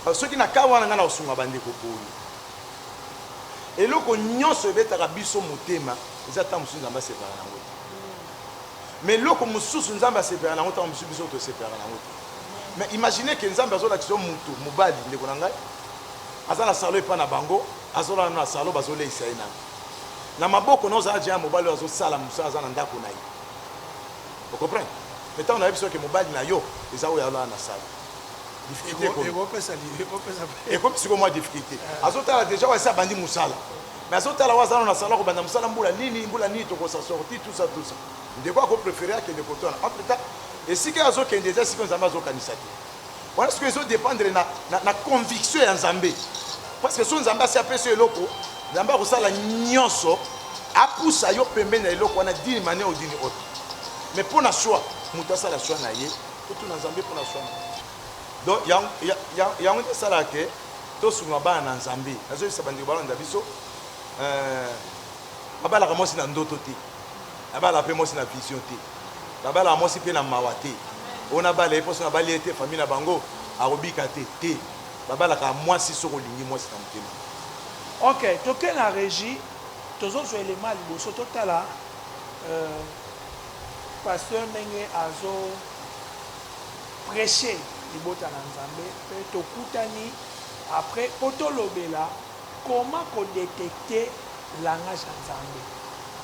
Speaker 1: parce soki na kaa wana ngai na kosunga bandeko poni eloko nyonso ebetaka biso motema eza ntango mosusu nzambe asepaka na yango te Mais eloko mususu nzambe asepelaka nango tango mususu biso tosepelaka nango te mais imagine que nzambe azolakisa yo mutu mubali ndeko na ngai aza na salon epa na bango azolala na salon bazoleisa ye nanu na maboko na ozala deja mobali oyo azosala mosala aza na ndako na ye ocomprendre mais tango nayebi soki mobali na yo eza oyo alala na salon difficulté ekomi sikoyo mwa difficulté azotala deja oyo asi abandi mosala Mais azo tala oyo aza nanu na salon ako banda musala mbula nini mbula nini toko sa sorti tout ça tout ça ndeko ako prefere akende kote wana en plus ta esika ye azo kende eza esika oyo nzambe azo kanisa te wana sikoyo ezo dependre na, na, na conviction ya nzambe parce que so nzambe asi apesi yo eloko nzambe akosala nyonso apusa yo pembeni na eloko wana dini mania odini oyo mais mpo na soi moto asala soi na ye totuna nzambe mpo na soi na ye Donc ya ya ya yango nde esalaka ke tosunga bana na Nzambe. Nazoyebisa bandeko balanda biso euh, babalaka mwasi na ndoto te, babalaka mpe mwasi na vision te, babalaka mwasi mpe na mawa te. Oyo nabala ye mposo nabali ye te, famille na bango akobika te te, babalaka mwasi soki olingi mwasi na motema. Ok, toke na
Speaker 2: regie, tozozwa elema ya liboso, totala euh, pasteur ndenge azo preche libota na nzambe pe tokutani apres po tolobela comment ko detecte langage ya nzambe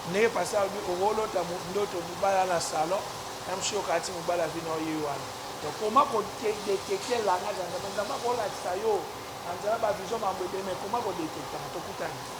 Speaker 2: ndenge pasteur alobi okolota ndoto mobali aza na salon na msio okati mobali avi na yo ye wana donc comment ko detecte langage ya nzambe nzambe akolakisa yo na nzela ba vision mambo ebele mais comment ko detecte yango tokutani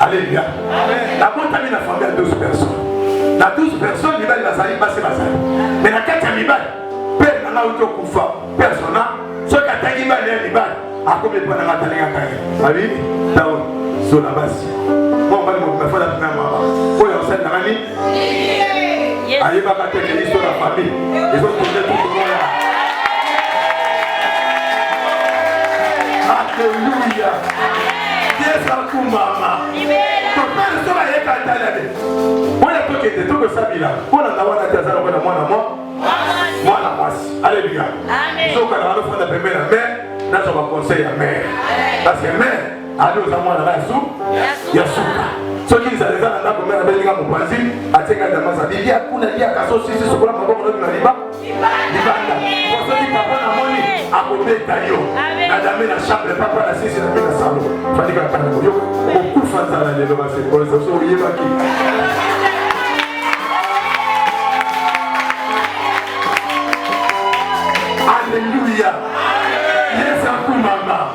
Speaker 4: Alléluia. Nabotami na famille ya 12 personnes. Na 12 personnes mibali bazali basi bazali. Mais na kati ya mibali père na ngai auto kufa persona soki atangi mibali ya mibali akomi epai na ngai atalingaka ye. Abi tawo zola basi. Mwa mobali mobimba fala mpe mama oyo asali na ngai ayebaka te ke histoire ya famille ezokende tukomoya aleluya yesu akumbama topele so bayeka talele oyo tokende tokosabila mpona na wana te aza lokola mwana mwa mwana mwasi aleluya sokana wana ofanda pembeni ya mare nazwa baconseil ya mare parce que mare ali oza mwana na su ya suka soki nzala eza na ndako mbe nabelinga mopanzi atika damasa bilia kuna liaka so sisi sokola maboko nobi na liba libanda po soki papa na moni akobeta yo na dame na chambre papa na sisi na mpe na salo fandika tanga yo kokufa nzala lelo basekolesa so oyebaki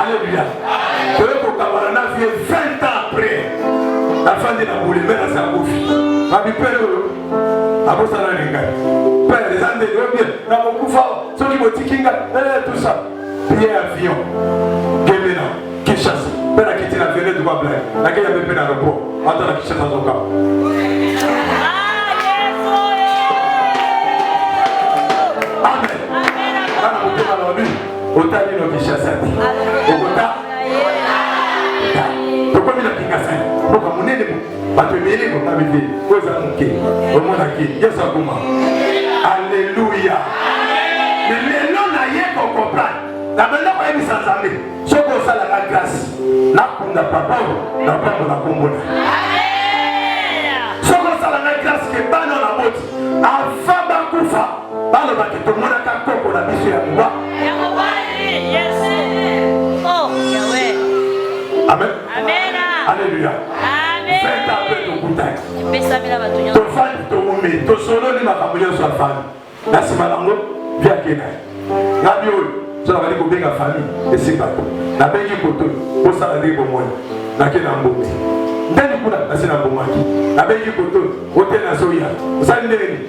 Speaker 4: Alléluia. Toye kokabana na vie 20 ans après. Nafandi na boule mais na sakufi. Abi père oyo abosana na ngai. Père eza nde yo bien na kokufa soki botiki ngai eh tout ça. Billet avion. Gemena Kinshasa. Père akiti na vele duba blague. Na kenya mpe na aéroport. Ata na Kinshasa zoka. Otali no Kinshasa te. Okota. Tokomi na Kingasani. Boka monene bo. Bato ebele kota bebe. Oyo eza moke. Omonaki. Yesu akoma. Alléluia. Mais lelo na ye ko comprendre. Na benda ko yebisa Nzambe. Soko osala ka grâce. Na kunda papa oyo. Na pambo na kombo na. Soko osala ka grâce ke bana na boti. Avant Balobaki tomonaka koko na biso ya liwa. Oh, Amen. Amen. Alléluia. Amen. Faites un peu de goûtage. Tofani toumeli, tosololi makambo nyonso ya fani. Na nsima nango via kena. Ngabi oyo so nabali kobenga fami esika to nabengi koto osala ndenge bomoni nake na mbongi ndeni kuna nasi na mbongaki nabengi koto ote nazoya osali ndenge nini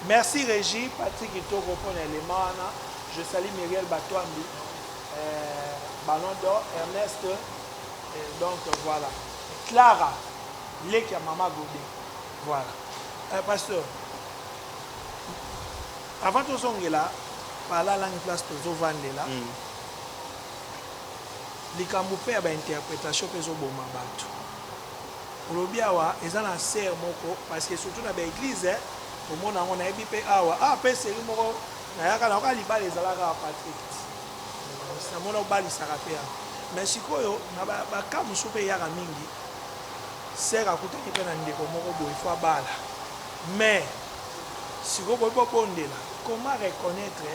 Speaker 2: Merci regie partie kitoko mpo na elema wana je sali miriel batwambi euh, ballon d'or ernest euh, donc voilà clara leki ya mama gode voilà euh, pasteur avant tozongela palalangi place tozovandela mm. likambo mpe ya bainterpretation mpe ezoboma bato Olobi awa eza na sœur moko parce que surtout na ba eglise omona yango nayebi pe awa awa pe serie moko nayaka nayoka libala ezalaka awa Patrick namona obalisaka pe awa mais sikoyo na ba, ba cas mosusu pe eyaka mingi sœur akutaki pe na ndeko moko boye fo abala mais sikoyo boyebi bobondela comment reconnaître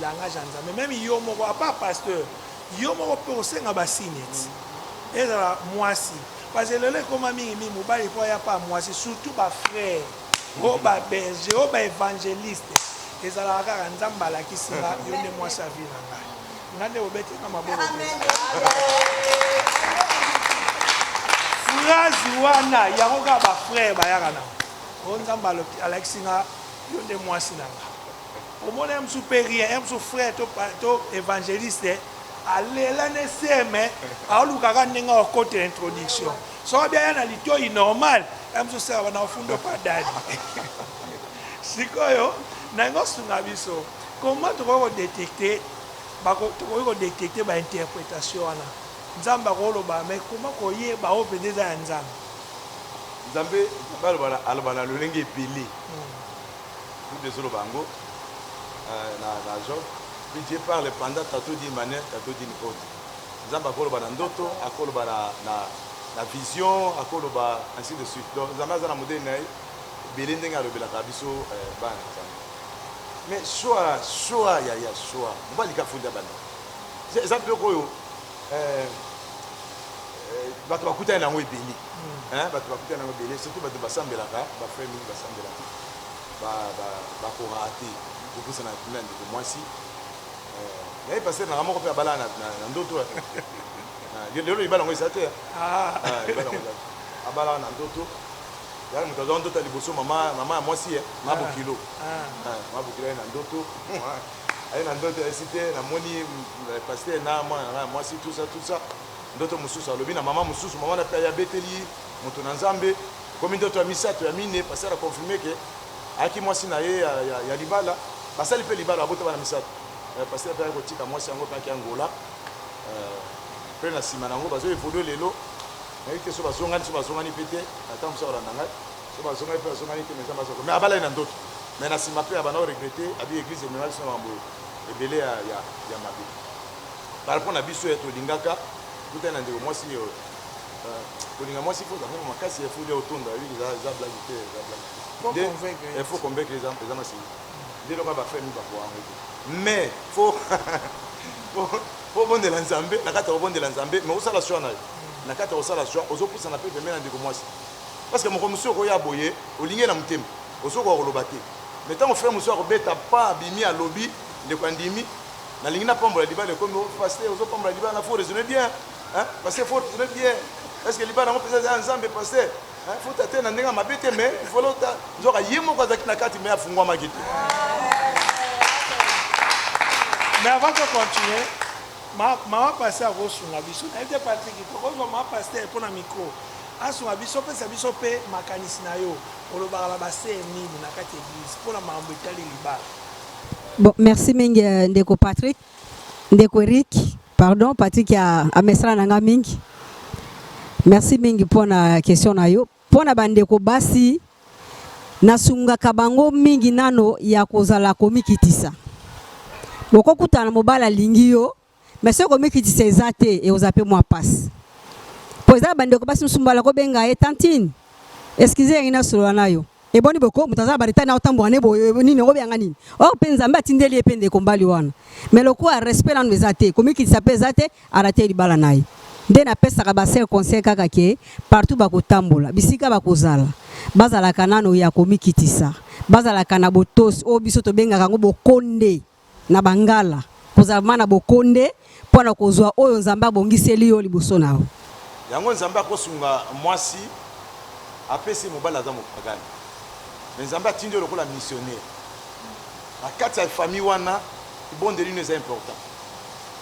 Speaker 2: langage ya Nzambe meme yo moko à part pasteur Yo moko mpe osenga ba signes ezala muasi parce lelo ekoma mingi mingi mobali mpo aya mpa muasi surtout ba frères oh ba berger oh ba evangeliste ezalaka kaka nzambe alakisi nga yo nde muasi ya vie na ngai nga nde obeti nga maboko phrase wana yango kaka ba frères bayaka na o nzambe alakisi nga yo nde muasi na nga Omona ye mususu pe rien ye mususu frère to to evangeliste alela ne se mais aoluka kaka ndenge akokotela introduction soki abi aya na litoyi normal ye mususu seka bana ofundo pa dadi sikoyo na yango osunga biso comment tokoki kodetecte tokoki kodetecte bainterpretation wana nzambe akoloba mais koma koyeba oyo mpenza eza ya nzambe nzambe aloba na lolenge ebele hmm.
Speaker 1: Bible ezo loba yango na job puis Dieu parle pendant tantot d'une manière tantot d'une autre nzambe ako loba na ndoto ako loba na na na vision ako loba ainsi de suite donc nzambe aza na modèle na ye ebele ndenge alobelaka biso eh, bana na nzambe mais choix choix ya ya choix mobali ka funda bana eza biloko oyo eh, eh, bato bakutani na yango ebele hmm. eh, bato bakutani na yango ebele surtout bato basambelaka bafrai mingi basambelaka bakoraka te kopusana na kuna ndeko mwasi naye paster nanga moko mpe abala na ndoto lelo libala yango eza te ah. ah, abalaka na ndoto yala moto azwa ndoto ya liboso mama ya mwasi ye eh, mabokilo ah, mabokilo ye na ndoto Aye na ndoto ya site na moni pasteur na mwana na nga ya mwasi tout ça tout ça ndoto mususu alobi na maman mususu maman na pe aye abeteli mutu na nzambe ekomi ndoto ya misato ya mine pasteur a confirme ke ayaki mwasi na ye ya, ya, ya libala basali pe libala babota bana misato euh, pasteur pe aye kotika mwasi yango pe aki angola euh, pe na nsima na yango bazo evolue lelo nayebi te so bazongani so bazongani pe te ata mosu akolanda ngai Soki bazongaki pe bazongaki te mais Nzambe aza ko mais abalaki na ndoto mais na sima pe abanda ko regrette abi eglise emema biso na makambo ebele ya ya ya mabe par rapport na biso ya tolingaka kuta na ndeko mwasi yo euh, kolinga mwasi faut azanga makasi ya faut ya otonda yo eza eza blague te eza blague te il faut convaincre eza eza masini nde loka ba famille ba ko ango mais faut faut bondela nzambe na kati ya kobondela nzambe mais osala choix na yo na kati ya kosala choix ozopusana pe pembeni na ndeko mwasi Parce que mokolo mosusu okoya boye olingi ye na motema ozo koka koloba te mais tango frère mosusu ako beta pas abimi alobi ndeko andimi nalingi na pambola libala ekomi oh pasteur ozo pambola libala na faut raisonner bien hein pasteur faut raisonner bien est ce que libala yango pesa eza ya nzambe pasteur hein faut tate na ndenge mabe te mais il faut lota nzoka ye moko azaki na kati mais afungwamaki te
Speaker 2: mais avant de continuer mama pasteur akosunga biso nayebi te patrik tokozwa mama pasteur mpo na micro Asunga biso, pesa biso pe makanisi na yo. Olobaka na ba sœurs nini na kati ya eglise pona makambo etali libala? Bon
Speaker 6: merci mingi ndeko Patrick ndeko Eric pardon Patrick amesana na nga mingi merci mingi mpo na question na yo mpo na bandeko basi nasungaka bango mingi nano ya kozala komikitisa bokokutana mobali alingi yo mais soki komikitisa eza te ekozala mpe mwa mpasi mpo eza na bandeko basi mosusu mbala kobenga ye tantine eskize yangi nasolola na yo eboni boko moto aza na bareta na otambola ne boye nini yango oyanga nini or mpe nzambe atindeli ye mpe ndeko mbali wana mais lokola respect nanu eza te komikitisa mpe eza te arate libala na ye nde napesaka basel conseil kaka ke partout bakotambola bisika bakozala bazalaka nano ya komikitisa bazalaka na botosi oyo biso tobengaka yango bokonde na bangala, kozala vraiment na bokonde mpo na kozwa oyo Nzambe abongiseli yo liboso na yo. Yango nzambe
Speaker 1: akosunga mwasi apesi mobali aza mopagani me nzambe atindi yo lokola missionnaire na kati ya famille wana libondeli no eza important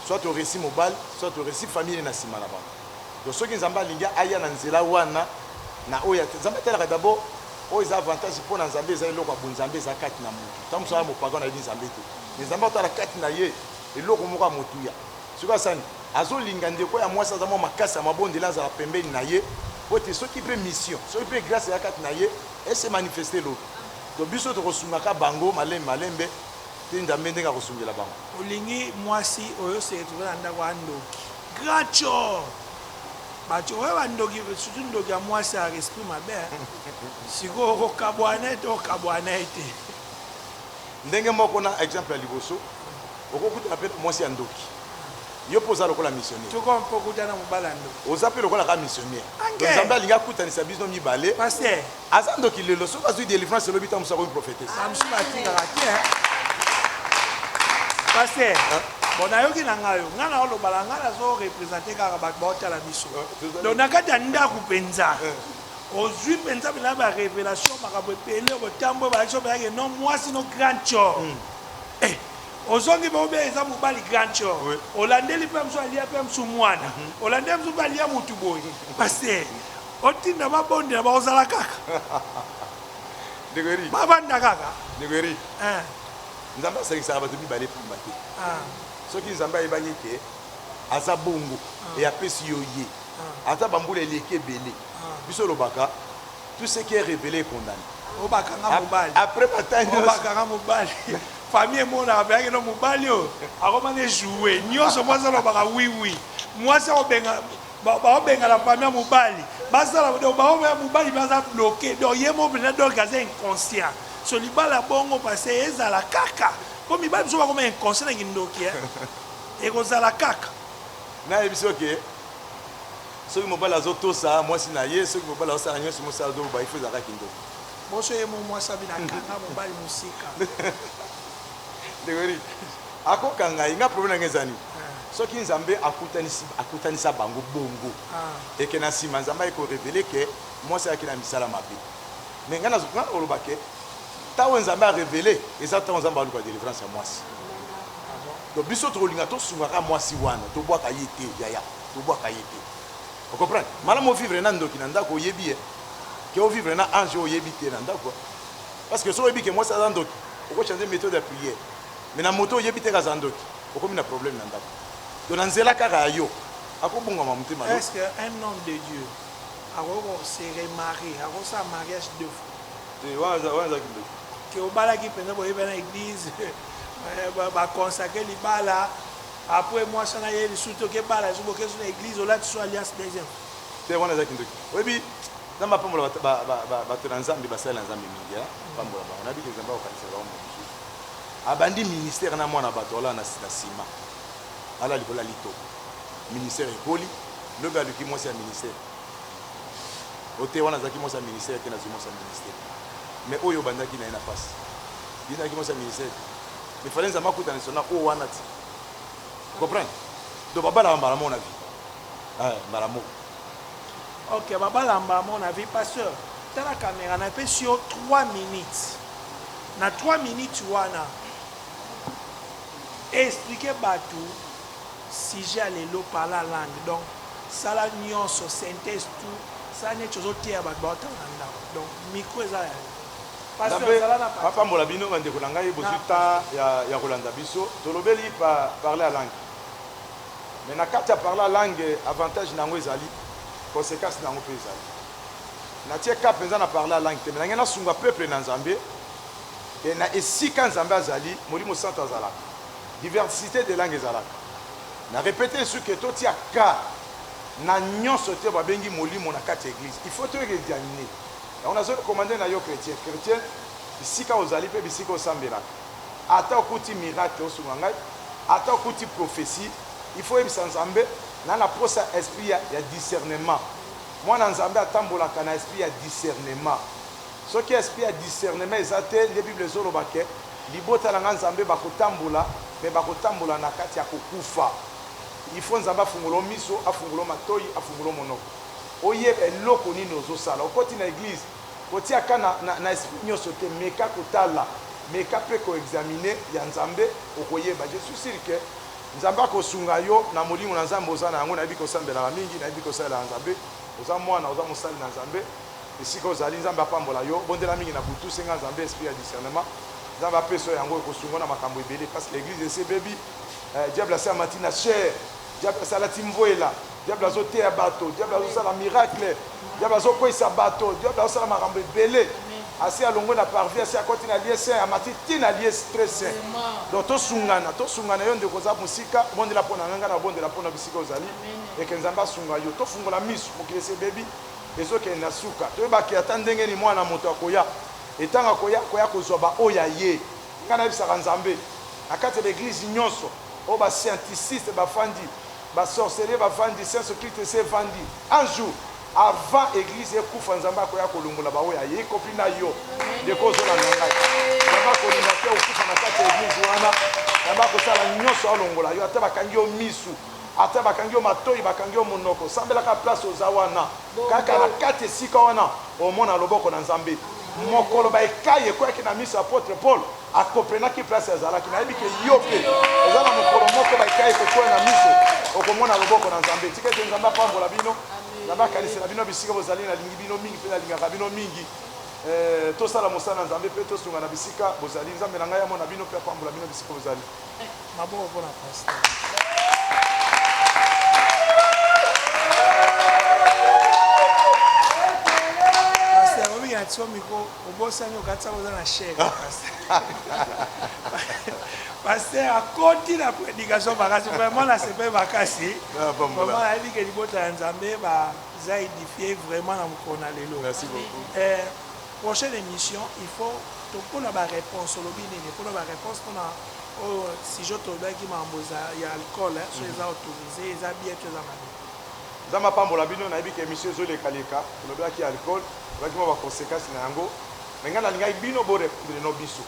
Speaker 1: soit oresi mobali soit oresi famille na nsima na bango do soki nzambe alingi aya na nzela wana na oyo nzambe atalaka dabord oyo eza avantage mpo na nzambe eza eloko ya bonzambe eza kati na moto Tango mosusu aza mopagano ayebi Nzambe te. Mais Nzambe akotala kati na ye eloko moko ya motuya. Soki asani azolinga ndeko ya mwasi aza mwa makasi ya mabondeli azala pembeni na ye mpo ete soki mpe mission soki mpe grace eza kati na ye ese manifeste lobi. Donc biso tokosungaka bango malembe malembe te Nzambe ndenge akosungela bango. Olingi mwasi
Speaker 2: oyo se retrouver na ndako aza ndoki. Grand tshor. Batu oyo ba ndoki surtout ndoki ya muasi ya esprit mabe sikoyo okokabuana naye to okabuana naye te.
Speaker 1: Ndenge moko na exemple ya liboso okokutana pe na muasi ya ndoki yo mpe oza lokola missionnaire tokoma mpe okuta na
Speaker 2: mobali ya ndoki oza mpe lokola kaka
Speaker 1: missionnaire nzambe alingi akutanisa bino mibale Aza
Speaker 2: ndoki lelo
Speaker 1: soki azui delivrance lobi tangu mususu akomi prophetesse. Ah mususu atikaka te
Speaker 2: hein. Pasteur. Hein? Bon nayoki na ngai yo. Ngai na oloba na ngai nazo representer kaka bato baotala biso. Donc na kati ya ndako penza. ozwi mpenza bilaa ba révélation makambo ebele botambo ebalaki obelaki no mwasi no grand chor hmm. eh, ozongi bobe eza mobali grand chor olandeli mpe mosu alia mpe mosu mwana hmm. olandeli mosu mpe alia motu boye paster Otinda ba bondela ba kozala kaka. Ndeko Eric. Ba banda kaka. Ndeko Eric. Eh. Nzambe
Speaker 1: asangisaka bato mibale pamba te. Ah. Soki Nzambe ayebaki ke aza bongo ah. et apesi yo ye. Ah. Ata bambula eleki ebele. Ah. Biso lobaka tout ce qui est révélé est condamné. Obakanga mobali.
Speaker 2: Après matangi.
Speaker 1: Obakanga mobali.
Speaker 2: famille emonaka mpe akeno mobali oyo akomani ejoue nyonso mwasi alobaka wiwi mwasi akobenga Baobengana famille ya mobali basala donc baobe ya mobali mpe aza bloke donc ye moko mpenza donc aza inconscient so libala bongo pase ezala kaka mpo mibali biso bakoma inconscient na kindoki ekozala kaka nayebiso
Speaker 1: oke soki mobali azotosa mwasi na ye soki mobali azosala nyonso mwasi azoba ifo ezalaka kindoki boso ye mo
Speaker 2: mwasi abinakanga mobali mosika ndeko
Speaker 1: Ako kanga ye nga problème na nga eza nini soki nzambe akutanisi akutanisa bango bongo et que na sima nzambe aye ko revele que mwasi ayaki na misala mabe mais nga nazo nga oloba que tango oyo nzambe a revele eza tango nzambe aluka delivrance ya mwasi donc biso toko linga to sunga ka mwasi wana to bwaka ye te yaya to bwaka ye te o comprendre malamu o vivre na ndoki na ndako oyebi ye que o vivre na ange oyebi te na ndako parce que soki oyebi que mwasi aza ndoki oko changer methode ya prière mais na moto oyebi te ke aza ndoki okomi na problème na ndaku donc na nzela kaka ya yo ako bungama motema yo. Est ce que un homme de
Speaker 2: Dieu akoki ko se remarier ako sala mariage deux fois? Te wana
Speaker 1: eza kindoki. Ke obalaki
Speaker 2: penza boye bana eglise ba consacrer libala apres mwasi wana aye lisusu te oke bala lisusu boke lisusu na eglise olati lisusu alliance deuxième fois? Te wana eza
Speaker 1: kindoki oyebi nzambe apambola batu na nzambe basali na nzambe mingi hein apambola bango nayebi ke nzambe akokanisa bango. Abandi ministère na mwana batu alala na na ciment alala likolo ya litoko ministère ekoli lobi aluki mwasi ya ministère o te wana azalaki mwasi ya ministère te nazwi mwasi ya ministère mais oyo obandaki na ye na pasi ye nazalaki mwasi ya ministère te mais fallait nzambe akuta na sona oyo wana ti comprendre donc babalaka mbala moko na vie mbala moko Ok
Speaker 2: ba balamba à mon avis pasteur tala camera na pesi yo 3 minutes na 3 minutes wana expliquer batu sujet ya lelo parla langue donc sala nyonso synthèse tout sala neti ozoteya bato baotala na ndako donc micro eza ya bapambola bino bandeko
Speaker 1: na ngai bozwi temps ya kolanda biso tolobeli parle ya langue Mais na kati ya parla langue avantage na yango ezali, consequence na yango pe ezali. Na tie cas penza na parla langue te mais na ngai na sunga peuple na Nzambe et na esika Nzambe azali, Molimo Santu azalaka. Diversite de langue ezalaka. Na repeter lisusu que to tia cas na nionso te ba bengi Molimo na kati ya eglise. Il faut to examiner. Yango na zo recommander na yo chretien, chretien, bisika ozali pe bisika osambelaka. Ata okuti miracle osunga ngai ata okuti prophetie il faut oyebisa nzambe na na posa ya esprit ya ya discernement mwana nzambe atambolaka na esprit ya discernement soki esprit ya discernement eza te nde bible ezoloba ke libota na ngai nzambe bakotambola mais bakotambola na kati ya kokufa il faut nzambe afungola yo miso afungola yo matoyi afungola yo monoko oyeba eloko nini ozosala okoti na eglise Kotiaka na, na, na esprit nionso te, meka kotala, meka pe ko examiner ya Nzambe, okoyeba. Je suis sur que Nzambe akosunga yo na molimo na Nzambe oza na yango. Nayebi ke osambelaka mingi, nayebi ke osalelaka Nzambe, oza mwana, oza mosali na Nzambe. Esika ozali, Nzambe apambola yo. Bondela mingi na butu, senga Nzambe esprit ya discernement. Nzambe apesa yo yango, ekosunga yo na makambo ebele. Parce que eglise esi ebebi, eh, diable asi amati na chair, diable asi alati mvuela. Diable azo teya bato, diable azo sala miracle, diable azo kweyisa bato, diable azo sala makambo ebele. Asi alongwe na parvis, asi akoti na lieu saint, amati ti na lieu très saint. Donc tosungana, tosungana, yo ndeko oza mosika, bondela mpo na ngai, ngai nabondela mpo na bisika ozali, et que Nzambe asunga yo. Tofungola miso, mokili esi ebebi, ezokende na suka. Toyeba que ata ndenge nini Mwana na moto akoya, et tango akoya, akoya kozua baoyo ya ye. Ngai nayebisaka Nzambe, na kati ya ba eglises nionso oyo ba scienticistes bafandi, Ba sorceliers ba vandi sense occulte esi evandi un jour avant eglise ekufa nzambe akoya kolongola ba oyo aye ycompris na yo ndeko ozolanda ngai nzambe akolinga te okufa na kati ya eglise wana nzambe akosala nyonso alongola yo ata bakangi yo misu ata bakangi yo matoyi bakangi yo monoko sambelaka place oza wana Kaka na kati esika wana omona loboko na Nzambe. Mokolo ba ekayi ekweyaki na miso ya apotre Paul, a comprenaki place azalaki. Nayebi ke yo pe oza na mokolo moko ba ekayi ekokweya na miso, okomona loboko na Nzambe. Tika ete Nzambe apambola bino. Nzambe akanisela bino bisika bozali. Nalingi bino mingi pe nalingaka bino mingi. Ee, tosala mosala na Nzambe pe tosunga na bisika bozali. Nzambe na ngai amona bino pe apambola bino bisika bozali. Maboko pona
Speaker 2: pasteur. Pasteur omi ya tio miko obosani okatisa boza na chef. Pasteur akoti na prédication makasi vraiment na sepe makasi. Ah, vraiment ayebi ke libota ya Nzambe ba za édifié vraiment na mokolo na lelo. Merci beaucoup. Eh, prochaine émission il faut tokona ba réponse olobi nini pona ba réponse pona Oyo sujet tolobelaki mambo za ya alcool hein soki eza autorise eza bien to eza mabe. Nzambe apambola
Speaker 1: bino nayebi ke emission ezo leka leka tolobelaki alcool tolobelaki mua ba consequences na yango mais ngai nalingaki bino bo repondre non biso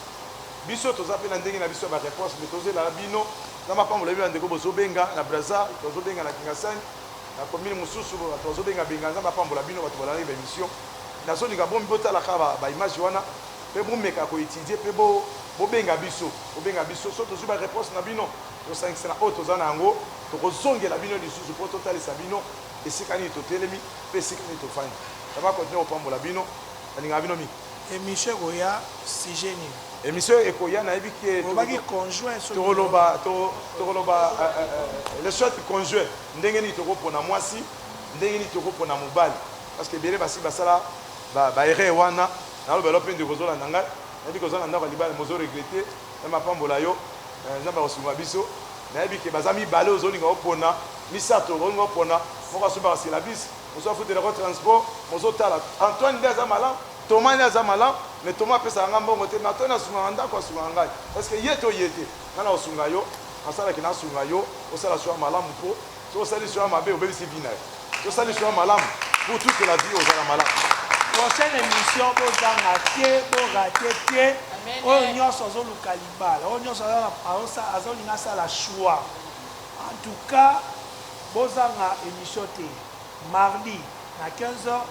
Speaker 1: biso toza pe na ndenge na biso ya ba reponse mais tozo lela bino Nzambe apambola bino ba ndeko bozo benga na Brazza batu bazo benga na Kingasani na commune mususu batu bazo benga benga Nzambe apambola bino batu balandaki ba emission nazo linga bomi botala kaka ba images wana pe bomeka ko etudier pe bo bobenga biso, bobenga biso soki tozui ba reponse na bino tosangisa na oyo toza na yango tokozongela bino lisusu po totalisa bino esika nini totelemi pe esika nini tofandi. Nzambe a continuer kopambola bino nalingaka bino mingi. Emission ekoya
Speaker 2: sujet nini? Emission ekoya
Speaker 1: nayebi ke Olobaki conjoint soki
Speaker 2: toko loba toko
Speaker 1: toko loba le soit conjoint ndenge nini toko pona mwasi ndenge nini toko pona mobali parce que ebele basi basala ba erreur wana. Naloba yo pe ndeko ozolanda ngai nayebi ke oza na ndako ya libala mais ozo regrette nzambe apambola yo nzambe akosunga biso nayebi ke baza mibale ozolinga opona misato okolinga opona moko asombaka syllabus mosusu afutelaka yo transport mais ozotala Antoine nde aza malamu Thomas nde aza malamu mais Thomas apesaka ngai mbongo te mais Antoine asungaka ndako asungaka ngai est ce que ye to ye te ngai nakosunga yo nasala ke nasunga yo osala choix ya malamu po Soki osali choix ya mabe obebisi vie nayo. Soki osali choix ya malamu pour toute la vie ozala malamu. Prochaine
Speaker 2: emission bo zanga te bo rate te oyo nionso azo luka libala oyo nionso azo linga asala choix en tout cas bo zanga emission te mardi na 15 heures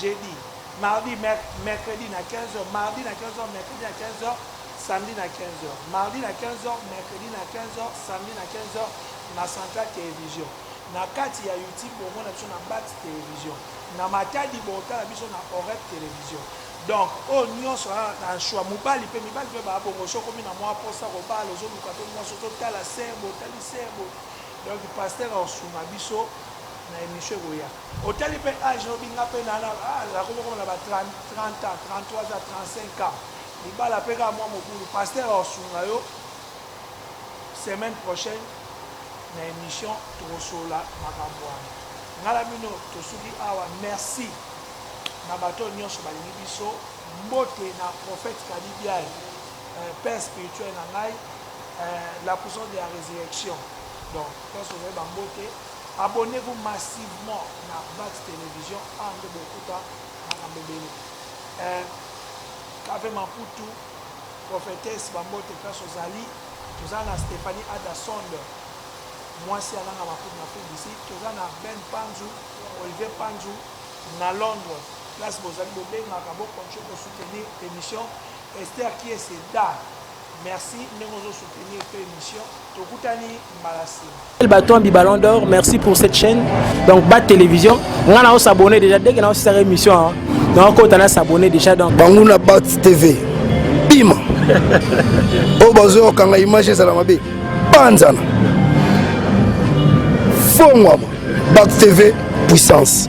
Speaker 2: jeudi mardi mercredi na 15 heures mardi na 15 heures mercredi na 15 heures samedi na 15 heures mardi na 15 heures mercredi na 15 heures samedi na 15 heures Na Central Television na kati ya YouTube bomona biso na Bat Television na Matadi botala biso na Oreb Television donc oyo nionso aa na choix mubali pe mibali pe ba bongo soki okomi na mua posa kobala ozo luka pe muasi ozo tala se bo tali se bo donc pasteur ako sunga biso na emission ekoya otali pe age oyo binga pe na na ah na komi koma na ba 30 30 ans 33 ans 35 ans libala pe ka mua mobulu pasteur ako sunga yo semaine prochaine na emission tokosolola makambu wana nga na bino tosuki awa merci na batu oyo nionso balingi biso mbote na prophète kadi biaye père spirituel na ngai la puissance de la resurrection donc nionso ozali ba mbote abonnez vous massivement na vax television awa nde bokuta makambu ebele cave maputu Prophetesse ba mbote place ozali toza na Stephanie Ada Sonde mwasi ya nanga makubu na Afrique du Sud toza na Ben Panzu Olivier Panzu na Londres place bozali bobengaka bo continue ko soutenir emission Esther Kiese Da merci ndenge ozo soutenir pe emission Tokutani mbala sima. El Baton bi Ballon d'Or,
Speaker 3: merci pour cette chaîne. Donc Bat Télévision, nga na s'abonner déjà dès que na osisa émission. Hein. Donc kota na s'abonner déjà donc. Banguna Bat TV.
Speaker 7: Bima. oh bazo kanga image ezala mabe. Panzana. Fongwa. Bat TV puissance.